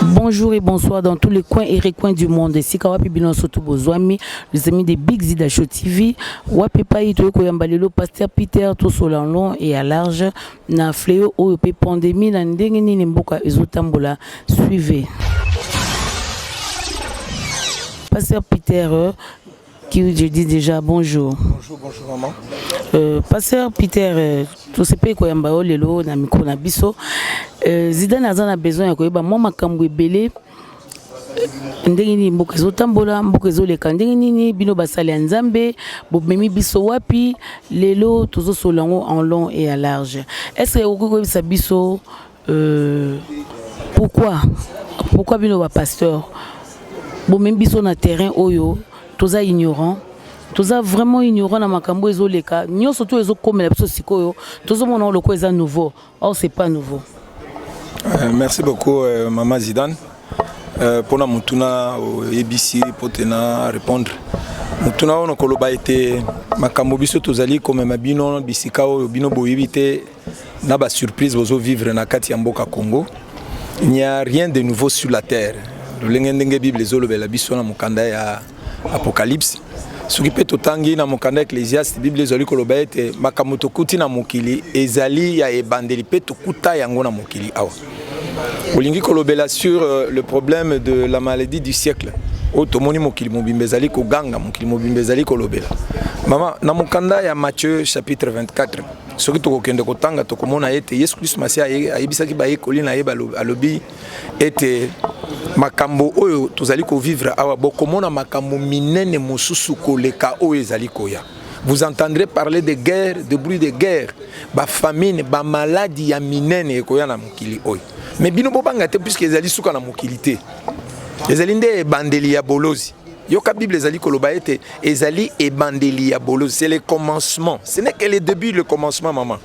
Bonjour et bonsoir dans tous les coins et recoins du monde. Et si Kawapi Bilan surtout Bozwami, les amis des Big Zida Show TV, Wapi Payi, Toyo Koyambalelo, Pasteur Peter, Tosolanlon et à large, Na fleo oyo pe pandemie na ndenge nini mboka ezo tambola suivez. Pasteur Peter, euh, qui je dis déjà bonjour. Bonjour, bonjour maman. Euh, Pasteur Peter, euh, tout ce pays koyamba yo lelo na micro na biso. Euh, Zidane aza na besoin ya koyeba mwa makambo ebele ndenge nini mboka ezotambola mboka ezoleka ndenge nini bino basali ya nzambe bomemi biso wapi lelo tozosolola yango en long et ya large est ce que okoki koyebisa biso euh, pourquoi pourquoi bino bapasteur bomemi biso na terrain oyo toza ignorant toza vraiment ignorant na makambo ezoleka nyonso to ezokomela biso sikoyo tozomona lokola eza nouveau Or c'est pas nouveau. Euh, merci beaucoup euh, Maman Zidane. Euh, pona mutuna oyebisi euh, po tena répondre mutuna oyo nakoloba ete makambo biso tozali komema bino bisika oyo bino boyebi te na basurprise bozovivre na kati ya mboka congo il n'y a rien de nouveau sur la terre lolenge ndenge bible ezolobela biso na mokanda ya Apocalypse soki mpe totangi na mokanda ya ecclesiaste biblia ezali koloba ete makambo tokuti na mokili ezali ya ebandeli mpe tokuta yango na mokili awa olingi kolobela sur euh, le problème de la maladie du siècle oyo tomoni mokili mobimba ezali koganga mokili mobimba ezali kolobela mama na mokanda ya matthieu chapitre 24 soki tokokende kotanga tokomona ete yesu kristo masiya ayebisaki bayekoli na ye alobi ete makambo oyo tozali kovivre awa bokomona makambo minene mosusu koleka oyo ezali koya vous entendrez parler de guerre de bruit de guerre bafamine bamaladi ya minene ekoya na mokili oyo me bino bobanga te puiske ezali suka na mokili te ezali nde ebandeli ya bolozi yoka bible ezali koloba ete ezali ebandeli ya bolozi c'est le commencement ce n'est que le début le commencement maman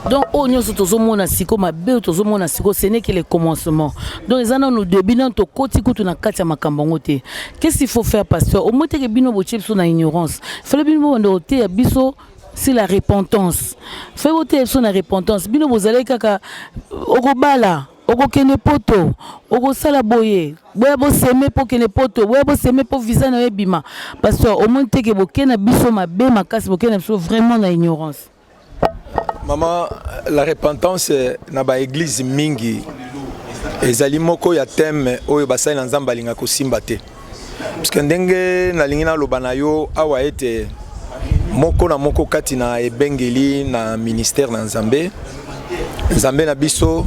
donc oyo nyonso tozomona siko mabe oyo tozomona siko ce n'est que le commencement donc eza nano début nano tokoti kutu na kati ya makambo yango te qu'est-ce qu'il faut faire pasteur omoi teke bino botie biso na ignorance fale bino bobanda koteya biso c'est la repentance fai boteya biso na repentance bino bozalaki kaka okobala okokende poto okosala boye boya boseme mpo okende poto boya boseme mpo visa na yo ebima pasteur omoni teke boke na biso mabe makasi boke na biso vraiment na ignorance mama la repentance na baeglize mingi ezali moko ya teme oyo basali na nzambe alinga kosimba te Puisque ndenge nalingi naloba na yo awa ete moko na moko kati na ebengeli na ministère na Nzambe Nzambe na biso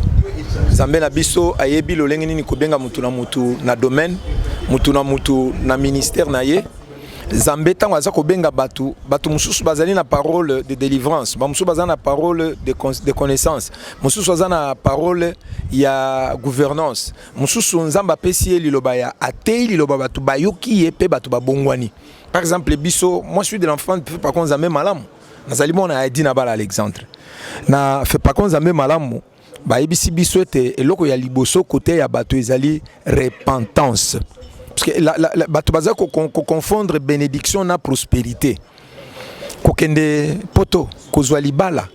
Nzambe na biso ayebi lolenge nini kobenga mutu na mutu na domaine mutu na mutu na ministère na ye Nzambe ntango aza kobenga bato bato mosusu bazali na parole de délivrance bamosusu baza na parole de, de connaissance mosusu aza na parole ya gouvernance Mosusu Nzambe apesi ye liloba ya ateyi liloba bato bayoki ye mpe bato babongwani. Par exemple biso moi suis de l'enfant de Pako Nzambe malamu nazali mwana ya Edina Bala Alexandre na Pako Nzambe malamu bayebisi biso ete eloko ya liboso kote ya bato ezali repentance parce que la, la, la, bato baza ko, ko, ko confondre bénédiction na prospérité kokende poto kozwa libala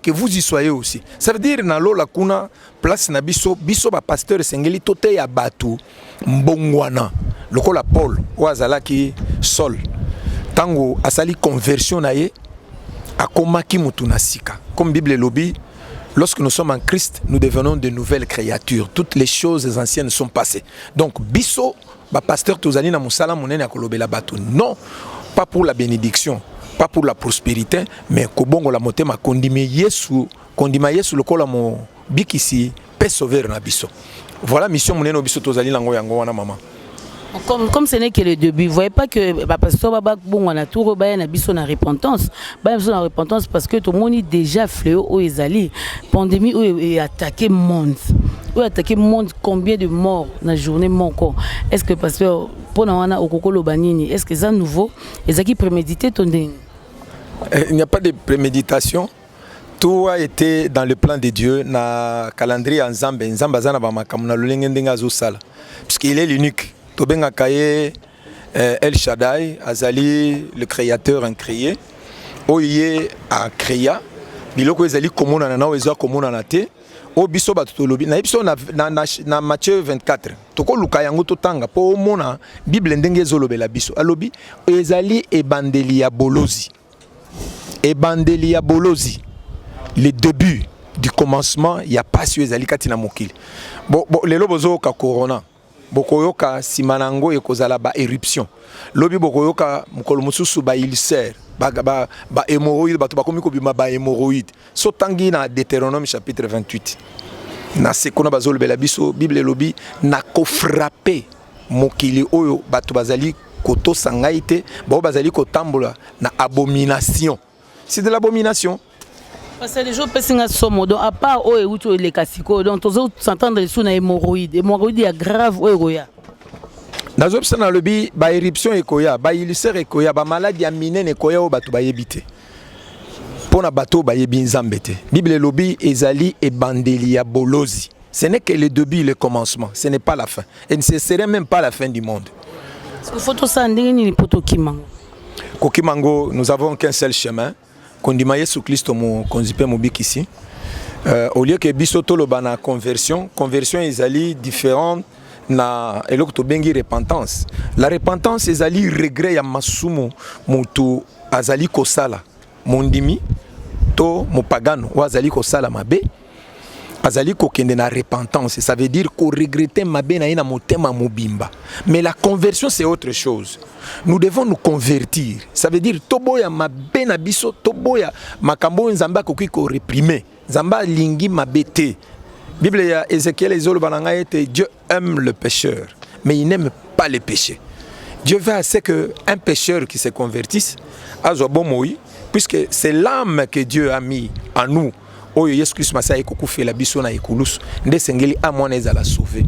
que vous y soyez aussi. Ça veut dire na lola kuna place na biso biso ba pasteur esengeli toteya bato mbongwana lokola Paul oyo azalaki Saul ntango asali conversion na ye akomaki motu na sika comme Bible elobi Lorsque nous sommes en Christ, nous devenons de nouvelles créatures. Toutes les choses anciennes sont passées. Donc, biso Ba pasteurs tozali na musala munene ya kolobela bato non pas pour la bénédiction pas pour la prospérité mais kobongola motema kondima Yesu kondima Yesu lokola mobikisi pe sauveur na biso voilà mission munene oyo biso tozali nango yango wana mama Comme, comme ce n'est que le début, vous voyez pas que bah, pasteur Baba bon on a tout rebaya na biso na repentance. Ba biso na repentance parce que tout le monde déjà fléau au ezali. Pandémie où est attaqué monde. Où est attaqué monde combien de morts na journée moko est ce que pasteur mpo na wana okoki oloba nini est ce que eza nouveau ezalaki prémédité to ndenge eh, il n'y a pas de préméditation tout a été dans le plan de dieu na calendrier ya nzambe nzambe aza na bamakambo na lolenge ndenge azosala puisque il est l'unique tobengaka ye eh, el shadai azali le créateur incréé oyo ye acréa biloko ezali komonana na oyo eza komonana te oyo biso bato tolobi nayebi biso na, na, na, na matthieu 24 tokoluka yango totanga mpo omona bible ndenge ezolobela biso alobi ezali ebandeli ya bolozi ebandeli ya bolozi le début du commencement ya pasi oyo ezali kati na mokili bo, bo, lelo bozoyoka corona bokoyoka nsima na yango ekozala ba éruption lobi bokoyoka mokolo mosusu ba ulcère ba, ba, ba hémorroïde bato bakomi kobima ba hémorroïde so tangi na Deutéronome chapitre 28 na se kuna bazolobela biso bible elobi nakofrape mokili oyo bato bazali kotosa ngai te baoyo bazali kotambola na abomination c'est de l'abomination pasali jo opesi nga somo donc apart oyo euti oyo eleka sikoyo donc tozo s'entendre lisusu na hémorroïde hémorroïde ya grave oyo ekoya nazobisa nalobi baéruption ekoya bailluser ekoya bamaladi ya minene ekoya oyo bato bayebi te mpo na bato oyo bayebi nzambe te bible elobi ezali ebandeli ya bolozi ce n'est que le début le commencement ce n'est pas la fin et ne ce serait même pas la fin du monde faut tosala ndenge nini mpo tokima ngo kokima yango nous avons qu'un seul chemin kondima yesu klisto mokonzi mpe mobikisi euh, au lieu ke biso toloba na conversion conversion ezali différente na eloko tobengi repentance la repentance ezali regret ya masumu motu azali kosala Mondimi to mopagano oyo azali kosala mabe azali kokende na repentance ça veut dire koregrete mabe na ye na motema mobimba mais la conversion c'est autre chose nous devons nous convertir ça veut dire toboya mabe na biso toboya makambo oyo nzambe akoki koreprime nzambe alingi mabe te bible ya ezekiel ezoloba na ngai ete dieu aime le pécheur, mais il n'aime pas les péchés. Dieu veut assez qu'un pécheur qui se convertisse, azwa bomoi, puisque c'est l'âme que Dieu a mis en nous. oyo yesu kristo masiya aye kokufela biso na ekulusu nde esengeli ame wana ezala sauve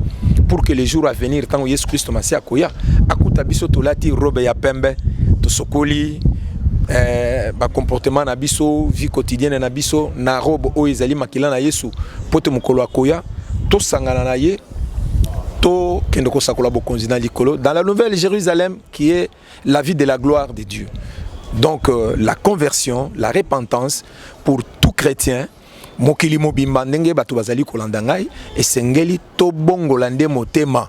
pour que le jour à venir ntango yesu kristo masiya akoya akuta biso tolati robe ya pembe tosokoli eh, bacomportement na biso vie quotidienne na biso na robe oyo ezali makila na yesu mpo te mokolo akoya tosangana na ye tokende kosakola bokonzi na likolo dans la nouvelle jérusalem qui est la vie de la gloire de dieu donc euh, la conversion la repentance pour tout chrétien mokili mobimba ndenge bato bazali kolanda ngai esengeli tobongola nde motema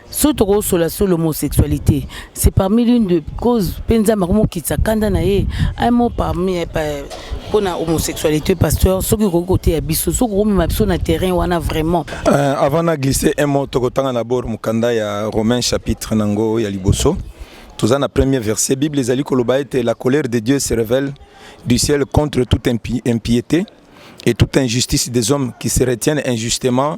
soki tokosola sur l'homosexualité c'est parmi l'une de cause mpe nzambe akomokitisa kanda na ye un mot parmi eh, mpona homosexualité pasteur soki okoki koteya biso soki okomema biso na terrain wana vraiment euh, avant na glisse un mot tokotanga na bord mokanda ya romain chapitre na yango ya liboso toza na premier verset bible ezali koloba ete la colère de dieu se révèle du ciel contre toute impiété et toute injustice des hommes qui se retiennent injustement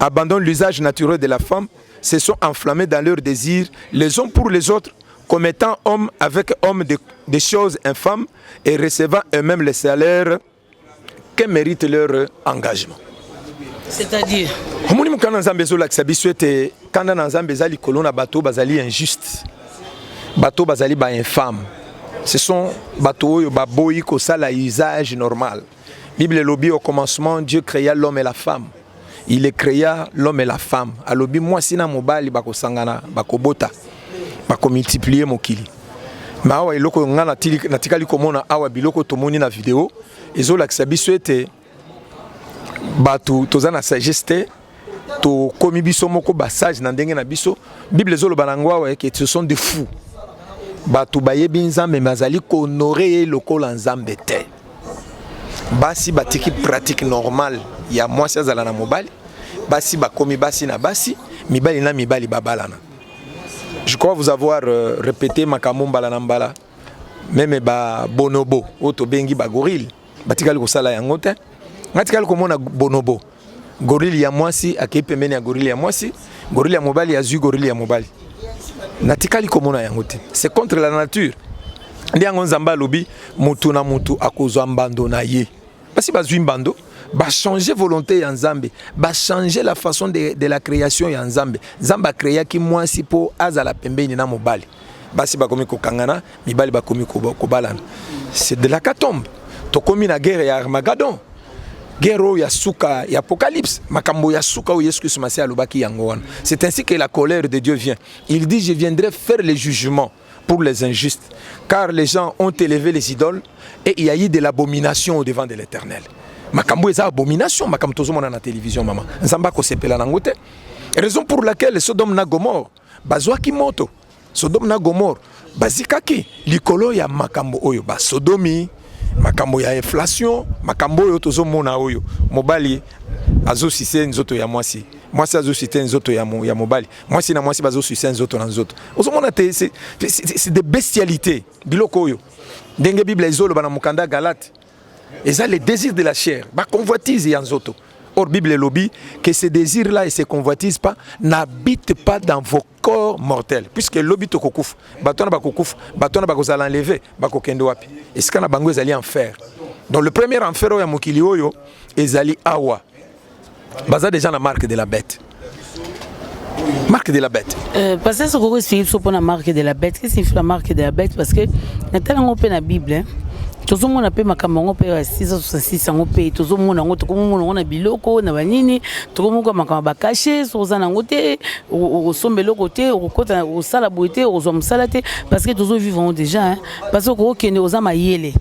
abandonnent l'usage naturel de la femme, se sont enflammés dans leurs désirs les uns pour les autres, commettant homme avec homme des de choses infâmes et recevant eux-mêmes les salaires que mérite leur engagement. C'est-à-dire omoni mokanda na nzambe ezolakisa biso ete kanda na nzambe eza likolo na bato bazali injuste bato bazali bainfame ce sont bato oyo baboyi kosala usage normal Bible elobi au commencement Dieu créa l'homme et la femme. Il est créa l'homme et la femme. Alobi mwasi na mobali bakosangana, bakobota, bakomultiplier mokili. Mais awa eloko nga natikali komona awa biloko tomoni na video ezolakisa biso ete bato toza na sagesse te tokomi biso moko basage na ndenge na biso bible ezoloba na yango awa eke ce sont de fous bato bayebi nzambe me azali kohonore ye lokola nzambe te basi batiki pratique normale ya mwasi azala na mobali basi bakomi basi na basi mibali na mibali babalana je crois vous avoir euh, répété makambo mbala na mbala meme ba bonobo oyo tobengi ba gorille batikali kosala yango te ngai tikali komona bonobo gorille ya mwasi akei pembeni ya gorille ya mwasi gorille ya mobali azwi gorille ya mobali natikali komona yango te c'est contre la nature nde yango nzambe alobi motu na motu akozwa mbando na ye basi bazwi mbando bachanger volonté ya nzambe bachanger la façon de, de la création ya nzambe nzambe akreaki mwasi mpo azala pembeni na mobali basi bakomi kokangana mibali bakomi kobalana c'est de la catombe tokomi na guerre ya armagadon guerre oyo ya suka ya apocalypse makambo ya suka oyo yesu kristo masiya alobaki yango wana c'est ainsi que la colère de dieu vient il dit je viendrai faire le jugement pour les injustes, car les gens ont élevé les idoles et il y a eu de l'abomination au devant de l'Éternel. makambo eza abomination makambo tozomona na télévision mama nzambe akosepela nango te raison pour laquelle sodome na gomore bazwaki moto sodome na gomore bazikaki likolo ya makambo oyo basodomi makambo ya inflation makambo oyo tozomona oyo mobali azosise nzoto ya mwasi mwasi azosite nzoto ya mobali mwasi na mwasi bazo sucer nzoto na nzoto ozomona te c'est de bestialité biloko oyo ndenge bible ezoloba na mokanda galate eza le désir de la chair baconvoitise ya nzoto or bible elobi que ce désir là et ces convoitises pas n'habite pas dans vos corps mortels puisque elobi tokokufa bato wana bakokufa bato wana bakozala enleve bakokende wapi esika na bango ezali enfer donc le premier enfer oyo ya mokili oyo ezali awa baza deja na marque de la bête marque de la bête euh, parce que soki okoexplike biso mpona marque de la bête qu'est-ce signifie la marque de la bête parce que natala yango mpe na bible hein? tozomona mpe makambo yango mpe ya 666 yango mpe tozomona yango tokomomona yango na biloko na banini tokomoka makambo ya bakashe soki oza na yango te okosomba eloko te okokota osala boye te okozwa mosala te parce que tozovivre yango déjà parce que okokende oza mayele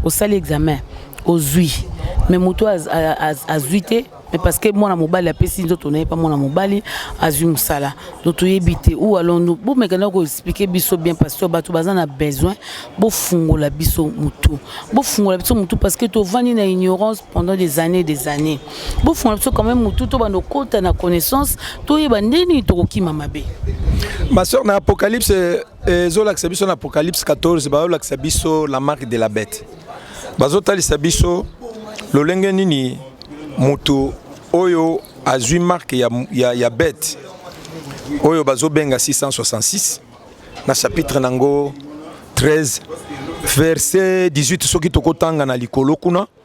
Osali examen, ozui. Mais mutu azui te, mais parce que mwana mobali apesi nzoto na ye pa mwana mobali azui musala donc toyebi te ou alors nous bo meka na ko expliquer biso bien parce que bato baza na besoin bo fungola biso mutu bo fungola biso mutu parce que to vandi na ignorance pendant des années des années bo fungola biso quand même mutu to bando kota na connaissance to yeba ndeni to kokima mabe ma soeur na apocalypse ezolakisa biso na apocalypse 14 bazolakisa biso la marque de la bête bazotalisa biso lolenge nini moto oyo azwi marke ya, ya, ya bete oyo bazobenga 666 na chapitre nango 13 verset 18 soki tokotanga na likolo kuna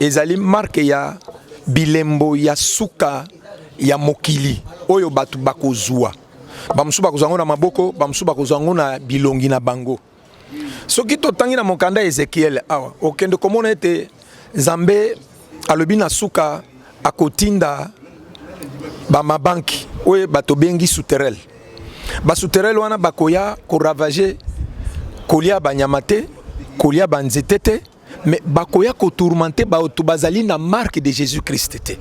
Ezali marque ya bilembo ya suka ya mokili oyo bato bakozua bamosusu bakozwa yango na maboko bamosusu bakozwa yango na bilongi na bango soki totangi na mokanda ya ezekiele awa okende komona ete nzambe alobi na suka akotinda bamabanki oyo bato bengi souterel basouterel wana bakoya koravage kolia banyama te kolia banzete te mais bakoya ko tourmenter bato bazali na marque de Jésus Christ te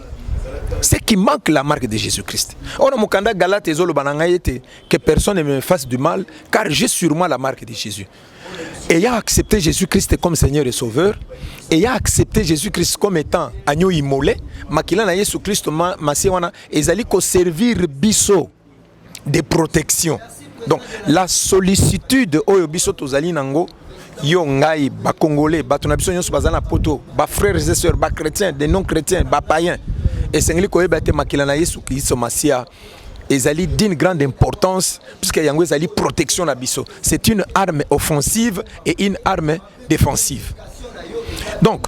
ce qui manque la marque de Jésus Christ on a mokanda Galate ezoloba na ngai ete que personne ne me fasse du mal car j'ai sur moi la marque de Jésus ayant accepté Jésus Christ comme Seigneur et Sauveur ayant accepté Jésus Christ comme étant agneau immolé makila na Yesu Christ masiya wana ezali ko servir biso de protection donc la sollicitude oyo biso tozali nango yo ngai bakongole bato na biso nyonso baza na poto bafrères et sœurs bachrétien de non chrétien bapayen esengeli koyeba te makila na yesu kristo masiya ezali d'une grande importance puisque yango ezali protection na biso c'est une arme offensive et une arme defensive donc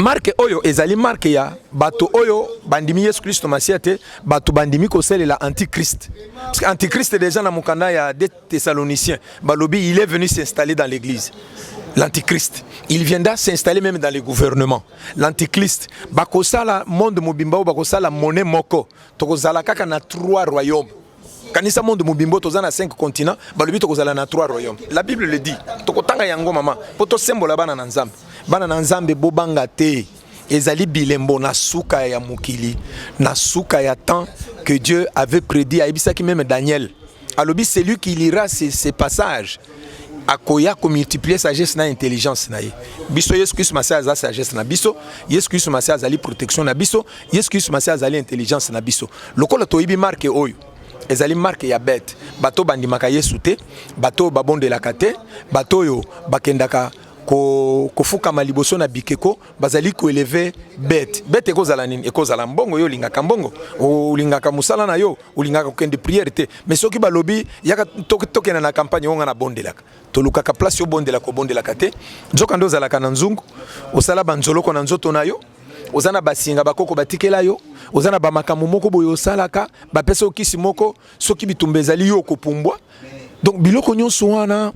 marke oyo ezali marke ya bato oyo bandimi yesu kristo masiya te bato bandimi kosalela antichrist parce que antichrist déjà na mokanda ya de thessalonicien balobi il est venu s'installer dans l'église l'antichrist il viendra s'installer même dans les gouvernements l'antichrist bakosala monde mobimba oyo bakosala monnaie moko tokozala kaka na trois royaumes kanisa monde mobimbo toza na 5 continent balobi tokozala na 3 royaume la bible le dit tokotanga yango mama mpo tosembola bana na nzambe bana na nzambe bobanga te ezali bilembo na suka ya mokili na suka ya temps que dieu avait prédit ayebisaki meme daniel alobi celui qui lira ces, ces passages akoya komultiplier sagesse na intelligence na ye biso yesu kristu masiya aza sagesse na biso yesu kristu masiya azali protection na biso Yesu Kristo Masiya azali intelligence na biso. Lokola toyebi marke oyo ezali marke ya bete, bato bandimaka Yesu te, bato babondelaka te, bato oyo bakendaka ko, kofukama liboso na bikeko bazali koeleve bete bete ekozala nini ekozala mbongo yo olingaka mbongo olingaka mosala na yo olingaka kokende priere te mais soki balobi yaka tokenda na campagne onga na bondelaka tolukaka place obondela kobondelaka te nzoka nde ozalaka na nzungu osala banzoloko na nzoto na yo oza na basinga bakoko batikela yo oza na bamakambo moko boye osalaka bapesa okisi moko soki bitumba ezali yo okopumbwa donc biloko nyonso wana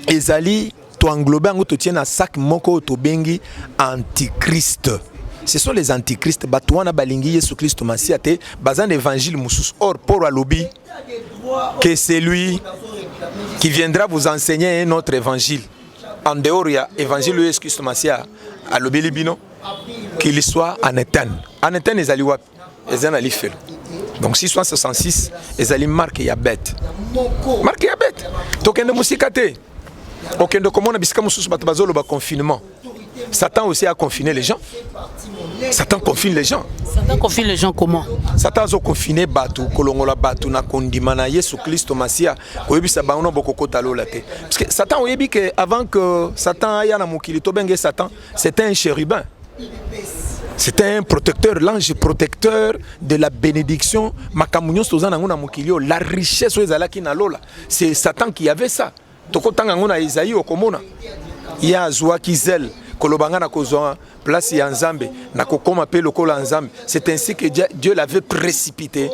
ezali toenglobe yango totie na sac moko oyo tobengi antichrist ce sont les antichrist bato wana balingi yesu kristo masiya te baza na evangile mosusu or polo alobi que c'est lui qui viendra vous enseigner un autre évangile en dehors ya évangile oyo yesu kristo masiya alobeli bino qu'il soit en etane en etane ezali wapi eza na lifelo donc 666 ezali marke ya bete marke ya bete tokende mosika te okende komona bisika mosusu bato bazoloba confinement Satan aussi a confiné les gens. Satan confine les gens. Satan confine les gens comment Satan azo confiner bato kolongola bato na kondima na Yesu Kristo Masia koyebisa bango na bokokota lola te. Parce que Satan oyebi que avant que Satan aya na mokili to benge Satan, c'était un chérubin. C'était un protecteur, l'ange protecteur de la bénédiction. Makamunyo sozana ngona mokili, la richesse oyo ezalaki na lola. C'est Satan qui avait ça. Tokotanga yango na Ezaïe, okomona ye azuaki zèle koloba nga nakozwa place ya Nzambe nakokoma pe lokola Nzambe. C'est ainsi que Dieu l'avait précipité.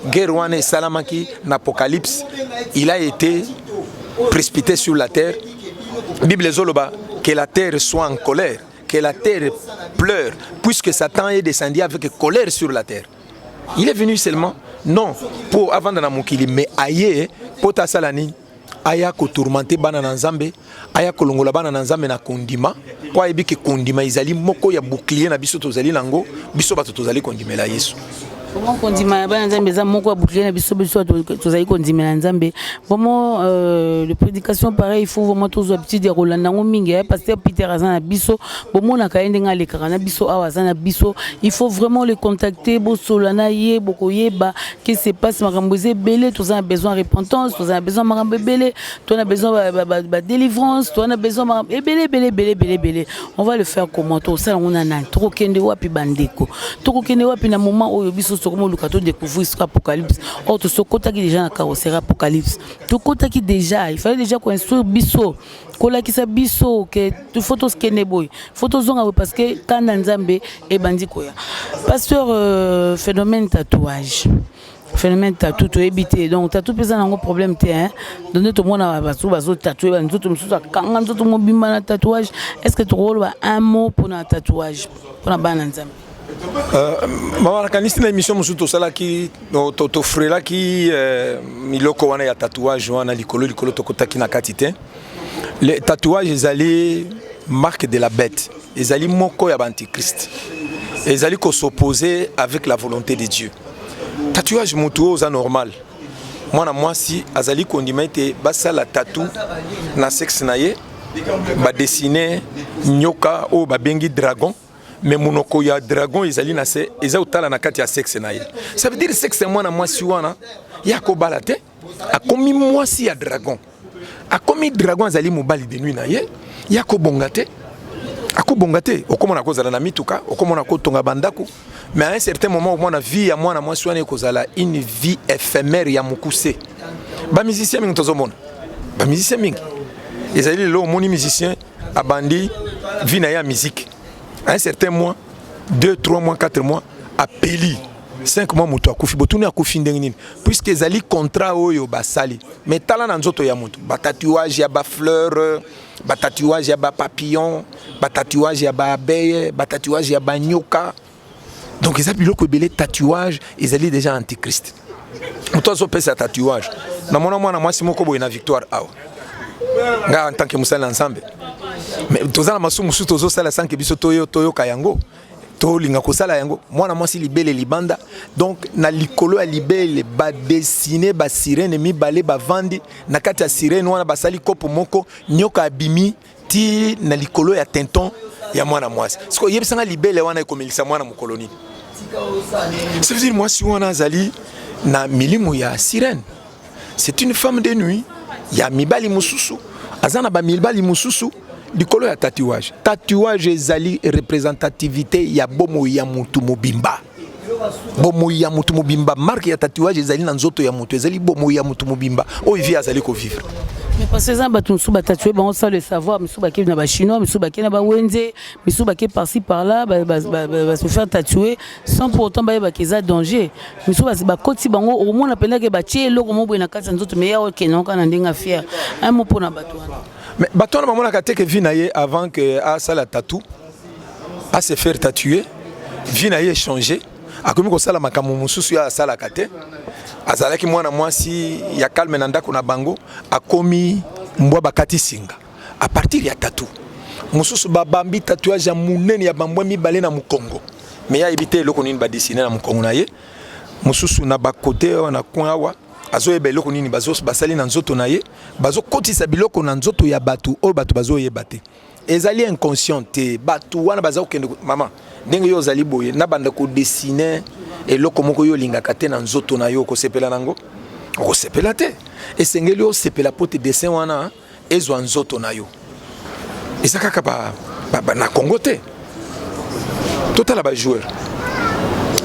Guerre wana esalamaki na Apocalypse, il a été précipité sur la terre. Bible ezoloba que la terre soit en colère, que la terre pleure, puisque Satan est descendu avec colère sur la terre. Il est venu seulement non pour avant dans la mokili mais aye pota salani aya ko tourmenter bana na Nzambe, aya kolongola bana na Nzambe na kondima, mpo ayebi ke kondima ezali moko ya bouclier na biso tozali nango, biso bato tozali kondimela Yesu. Bomo kondima ya bana Nzambe eza moko ya bouclier na biso biso tozali kondimela Nzambe. Bomo euh, le prédication pareil, il faut vraiment tozwa habitude ya kolanda yango mingi. Eh, pasteur Peter aza na biso, bomonaka ye ndenge alekaka na biso awa aza na biso. Il faut vraiment le contacter, bosola na ye, bokoyeba qui se passe makambo eza ebele toza na besoin repentance toza na besoin makambo ebele to na besoin badélivrance toza na besoin makambo ebele ebele ebele ebele ebele on va le faire comment tokosala yango na nani tokokende wapi bandeko tokokende wapi na moment oyo biso tokomoluka to découvrir soki apocalypse or tosokotaki déjà na carrosseri apocalypse tokotaki déjà il fallait déjà koinstruire biso kolakisa biso ke fo toskende boye fo tozonga boye parce que kanda nzambe ebandi koya pasteur euh, phénomène tatouage phénomène tatou toyebi te donc tatou mpe eza nango problème te hein donc nde tomona bato bazotatue banzoto mosusu akanga nzoto mobimba na tatouage est ce que tokoloba un mot mpona tatouage mpona bana nzambe Euh, maman nakanisi na émission mosusu tosalaki tofrelaki euh, miloko wana ya tatouage wana likolo likolo tokotaki na kati te le tatouage ezali marque de la bête ezali moko ya baantichrist ezali kosopose avec la volonté de dieu tatouage motu oyo oza normal mwana mwasi azali kondima ete basala tatou na sexe na ye badessine nyoka oyo babengi dragon mais monoko ya dragon ezali na se eza kotala na kati ya sexe na ye ça veut dire sexe ya mwana mwasi wana ye akobala te akomi mwasi ya dragon akomi dragon azali mobali de nuit na ye ye akobonga te akobonga te okomona akozala na mituka okomona akotonga bandako mais à un certain moment okomona vie ya mwana mwasi wana ekozala une vie éphémère ya mokuse bamusicien mingi tozomona bamusicien mingi ezali lelo omoni musicien abandi vie na ye ya musique à un certain mois 2 3 mois 4 mois apeli 5 mois moto akufi botuni akufi ndenge nini puisque ezali contrat oyo basali mais tala na nzoto ya moto batatuage ya bafleur batatuage ya bapapillon batatuage ya baabeille batatuage ya banyoka donc eza biloko ebele tatouage ezali déjà antichrist moto azopesa tatouage namona mwana mwasi moko boye na victoire awa ngai en tant que mosali na nzambe mais toza na masumu mosusu tozosala sanke biso toyoka yango tolinga kosala yango mwana mwasi libele libanda donc na likolo ya libele badesine basirene mibale bavandi na kati ya sirene wana basali kopo moko nyoka abimi ti na likolo ya tenton ya mwana mwasi siko yebisa nga libele wana ekomelisa mwana mokolo nini ça veut dire mwasi wana azali na milimu ya sirène c'est une femme de nuit ya mibali mosusu aza na bamibali mosusu likolo ya tatouage tatouage ezali representativité ya bomoi ya motu mobimba bomoyi ya moto mobimba marke ya tatouage ezali na nzoto ya moto ezali bomoyi ya moto mobimba oyo vie azali kovivre parce que eza bato mosusu batatue bango sans le savoir misusu bakei na bachinois misusu bakei na bawenze misusu bakei parci par là base faire tatue sans pour autant bayebaka eza danger misusu bakoti bango okomona mpendake batie eloko moboye na kati ya nzoto mais ya okendoka na ndenge afiere un mot mpo na bato wana mais bato wana bamonaka te ke vi na ye avant ke asala tatou a se faire tatue vie na ye echange akomi kosala makambo mosusu ya asalaka te azalaki mwana mwasi ya calme na ndako na bango akomi mbwa bakati singa a partir ya tatu mosusu babambi tatouage ya monene ya bambwa mibale na mokongo me ya yebi te eloko nini badesine na mokongo na ye mosusu na bakote awa na coin awa azoyeba eloko nini basali na nzoto na ye bazokotisa biloko na nzoto ya bato oyo bato bazoyeba te ezali inconscient te bato wana baza kokende mama ndenge yo ozali boye nabanda kodessine eloko moko yo olingaka te na nzoto na yo okosepela nango okosepela te esengeli osepela mpo te dessin wana ezwa nzoto na yo eza kaka ba, ba, ba, na congo te totala bajoueur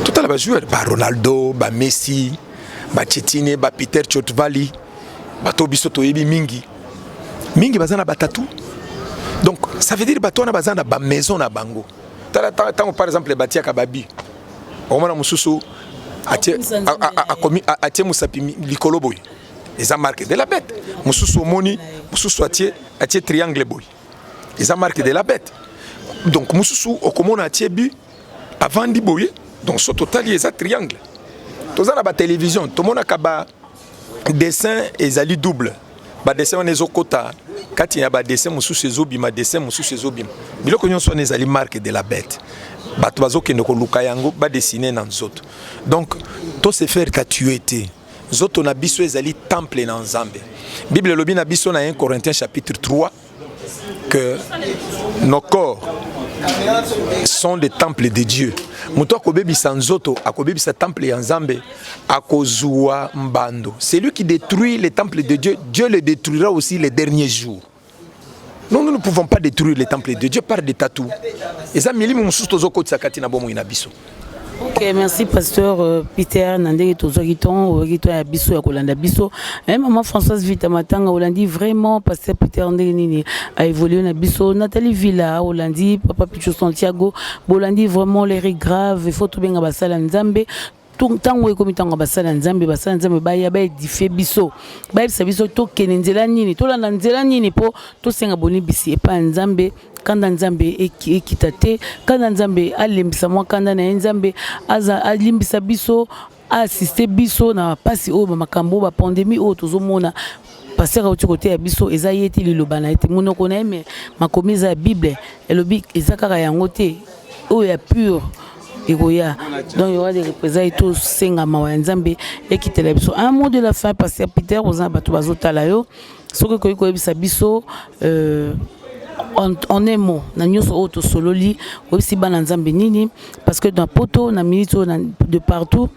totala bajoueur ba ronaldo ba messi ba chetine ba peter chotvali bato biso toyebi mingi mingi baza na batatu donc ça veut dire bato wana baza na bamaison na bango tala ntango par exemple batiaka babi omona mosusu atie mosapi likolo boye eza marque de la bête mosusu omoni mosusu atie atie triangle boye eza marque de la bête donc mosusu okomona atie but avandi boye donc so totali eza triangle toza na batelevizio tomonaka ba, ba dessin ezali double badessin wana ezokota kati ya badessin mosusu ezobima dessin mosusu ezobima biloko nyonso wana ezali marque de la bête bato bazokende koluka yango badessine na nzoto donc to se faire tatue te nzoto na biso ezali temple na nzambe bible elobi na biso na 1 corinthiens chapitre 3 que nos corps sont des temples de Dieu. Moto akobebisa nzoto, akobebisa temple ya Nzambe, akozua mbando. Celui qui détruit les temples de Dieu, Dieu le détruira aussi les derniers jours. Non, nous ne pouvons pas détruire les temples de Dieu par des tatous. Eza milimu mususu tozokotisa kati na bomoi na biso. Ok, merci pasteur euh, Peter na ndenge tozwaki ntongo oyaki to ya biso ya kolanda biso eh, mama Françoise Vita Matanga olandi vraiment pasteur Peter ndenge nini aévolue na biso Nathalie Villa olandi papa Pichu Santiago bolandi vraiment l'erreur grave il faut tobenga basala Nzambe ntango ekomi ntango ya basala nzambe basala nzambe baya baedifie biso bayebisa biso tokende nzela nini tolanda nzela nini mpo tosenga bolimbisi epai ya nzambe kanda nzambe ekita te kanda nzambe alembisa mwa kanda na ye nzambe alimbisa biso aasiste biso na bapasi oyo bamakambo oyo bapandemi oyo tozomona paster auti koteya biso eza ye te liloba na ye te monoko na ye me makomi eza ya bible elobi eza kaka yango te oyo ya pure ekoya donc yowa de représaille tosenga mawa ya nzambe ekitela biso un mot de la fin paster peter oza na bato bazotala yo soki okoki koyebisa biso euh, en, en un mot na nyonso oyo tosololi oyebisi bana nzambe nini parce que na poto na minute oyo de partout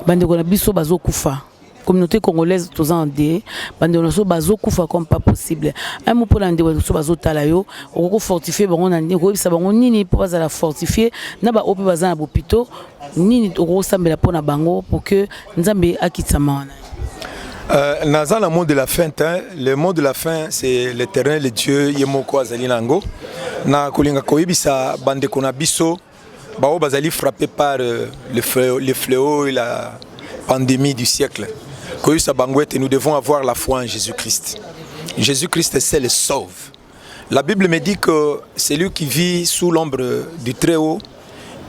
bandeko na biso bazokufa communauté congolaise toza en de bandeko na biso bazokufa comme pas possible un mot mpo na ndeko na biso bazotala yo okoki kofortifie bango na nini okoyebisa bango nini mpo bazala fortifie na baoyo mpe baza na bopito nini okoki kosambela mpo na bango pour que nzambe akitisa mawa na Euh, naza na mot de la fin te le mot de la fin c'est l'éternel dieu ye moko azali na yango na kolinga koyebisa bandeko na biso baoyo bazali frappé par euh, le, fléau, le fléau et la pandémie du siècle koyebisa bango ete nous devons avoir la foi en jésus christ jésus christ seul sauve La Bible me dit que celui qui vit sous l'ombre du Très-Haut,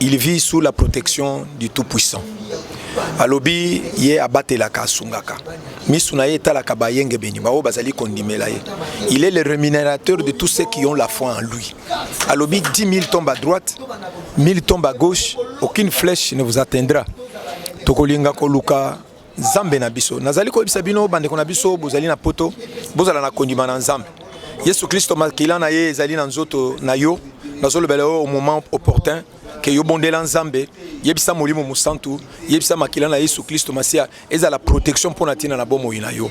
il vit sous la protection du Tout-Puissant. alobi ye abatelaka asungaka misu na ye etalaka bayengebeni baoyo bazali kondimela ye il est le rémunérateur de tous ceux qui ont la foi en lui alobi 10 000 tombes à droite 1000 tombes à gauche aucune flèche ne vous atteindra tokolinga koluka Nzambe na biso. Nazali koyebisa bino bandeko na biso bozali na poto, bozala na kondima na Nzambe. Yesu Kristo makila na ye ezali na nzoto na yo. Nazolobela yo au moment opportun ke yo bondela Nzambe, yebisa Molimo Mosantu, yebisa makila na Yesu Kristo Masia ezala protection mpo na ntina na bomoi na yo.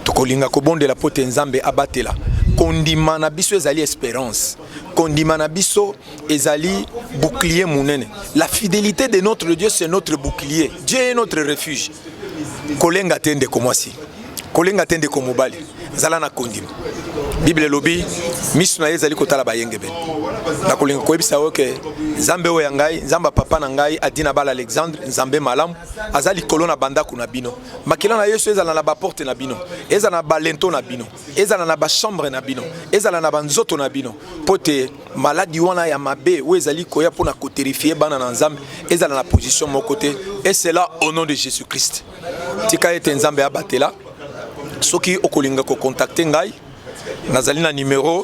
Tokolinga kobondela mpo te Nzambe abatela kondima na biso ezali esperance. Kondima na biso ezali bouclier munene la fidelité de notre dieu c'est notre bouclier dieu est notre refuge kolenga te ndeko mwasi kolenga te ndeko mobali zala na kondima bible elobi miso na ye ezali kotala bayengebene nakolinga koyebisa yo ke nzambe oyo ya ngai nzambe ya papa na ngai adi na bala alexandre nzambe malamu aza likolo na bandako na bino makila na yesu ezala na baporte na bino ezala na balento na bino ezala na bachambre na bino ezala na banzoto na bino mpo te maladi wana ya mabe oyo ezali koya mpo na koterifie bana na nzambe ezala na position moko te et cela au nom de jésus christ tika ete nzambe abatela soki okolinga kokontakte ngai nazali na numero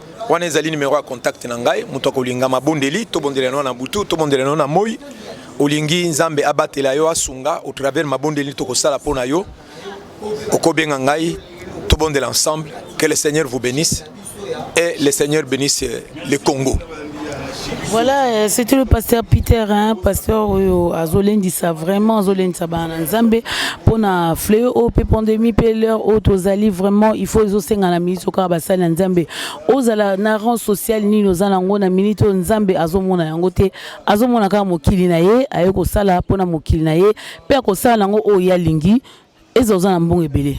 wana ezali numero ya contact na ngai moto akolinga mabondeli tobondela yango na butu tobondela yango na moi olingi nzambe abatela yo asunga au travers mabondeli tokosala mpo na yo okobenga ngai tobondela ensemble que le seigneur vous bénisse et le seigneur bénisse le congo Voilà, euh, c'était le pasteur Peter, hein, pasteur oyo azolendisa vraiment azolendisa bana Nzambe pona fléau oyo pe pandémie pe l'heure oyo tozali vraiment il faut ezosenga na minute oyo kaka basali na Nzambe ozala na rang social nini oza nango na minute oyo Nzambe azomona yango te azomona kaka mokili na ye aye kosala pona mokili na ye pe akosala nango oyo ye alingi Ezala oza na mbongo ebele,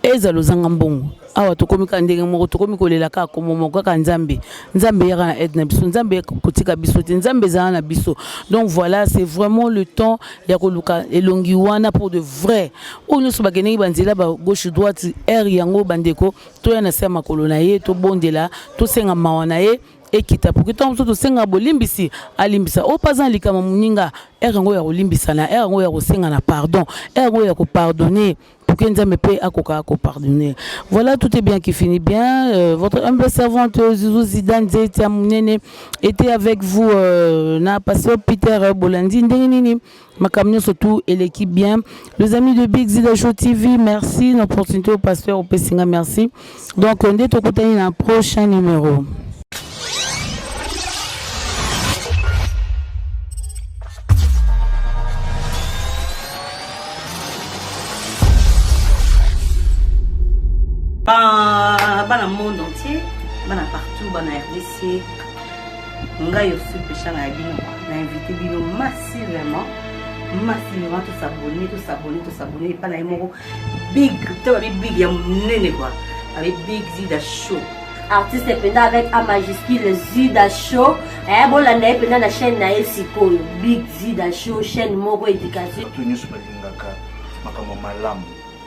ezala ozanga mbongo, awa tokomi kaka ndenge moko, tokomi kolela kaka kombo moko kaka Nzambe. Nzambe yaka na aide na biso, Nzambe kotika biso te, Nzambe ezala na biso. Donc voilà, c'est vraiment le temps ya koluka elongi wana pour de vrai. Oyo nyonso bakendeki banzela ba gauche droite, heure yango bandeko toya na se ya makolo na ye, tobondela, tosenga mawa na ye. ekita po ntango mosusu tosenga bolimbisi alimbisa oyo mpe aza na likama moninga ere yango ya kolimbisana ere yango ya kosengana pardon ere yango ya kopardonne poke nzambe mpe akoka kopardonne voilà tout est bien qui finit bien euh, votre humble servante euh, zuzu zida nzeti ya monene était avec vous euh, na pasteur peter bolandi ndenge nini makambo nyonso tout eleki bien les amis de big zida show tv merci na opportunité au pasteur opesi nga merci donc nde tokutani na prochain numéro bana monde entier bana partout bana rdc ngai osi peshanga ya bino na invite bino masi vraiment masi vraiment tosabone tosabone tosabone epa na ye moko big to babi big ya monene kua babi big zida show artiste mpenza avec a majuscule zida show eh, bolanda ye mpenza na chaîne na ye sikoyo big zida show chaîne moko éducation bato nyonso balingaka makambo malamu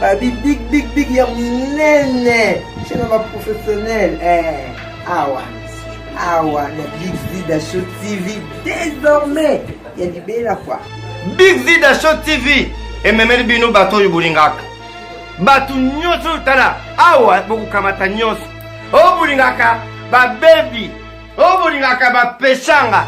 babi big big big ya monene chez na baprofessionnel eh, awa awa na big vida show tv désormais ya libela kua big vida show tv ememeli bino bato oyo bolingaka bato nyonso oyo tala awa bokokamata nyonso oyo bolingaka babebi oyo bolingaka bapesanga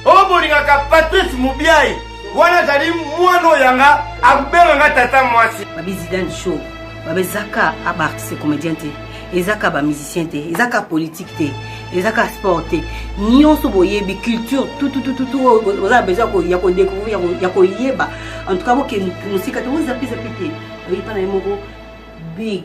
oyo bolingaka patrice mobiai wana azali mwana oyo yanga akobenga nga tata mwasi babi zidane show babi ezaka abaartiste comédien te ezaka bamusicien te ezaka politique te ezaka sport te nyonso boyebi culture tututututu oyo oza besoin ya kodécouvrir ya koyeba en tout cas bokende mosika te ozapezape te oyepa na ye moko big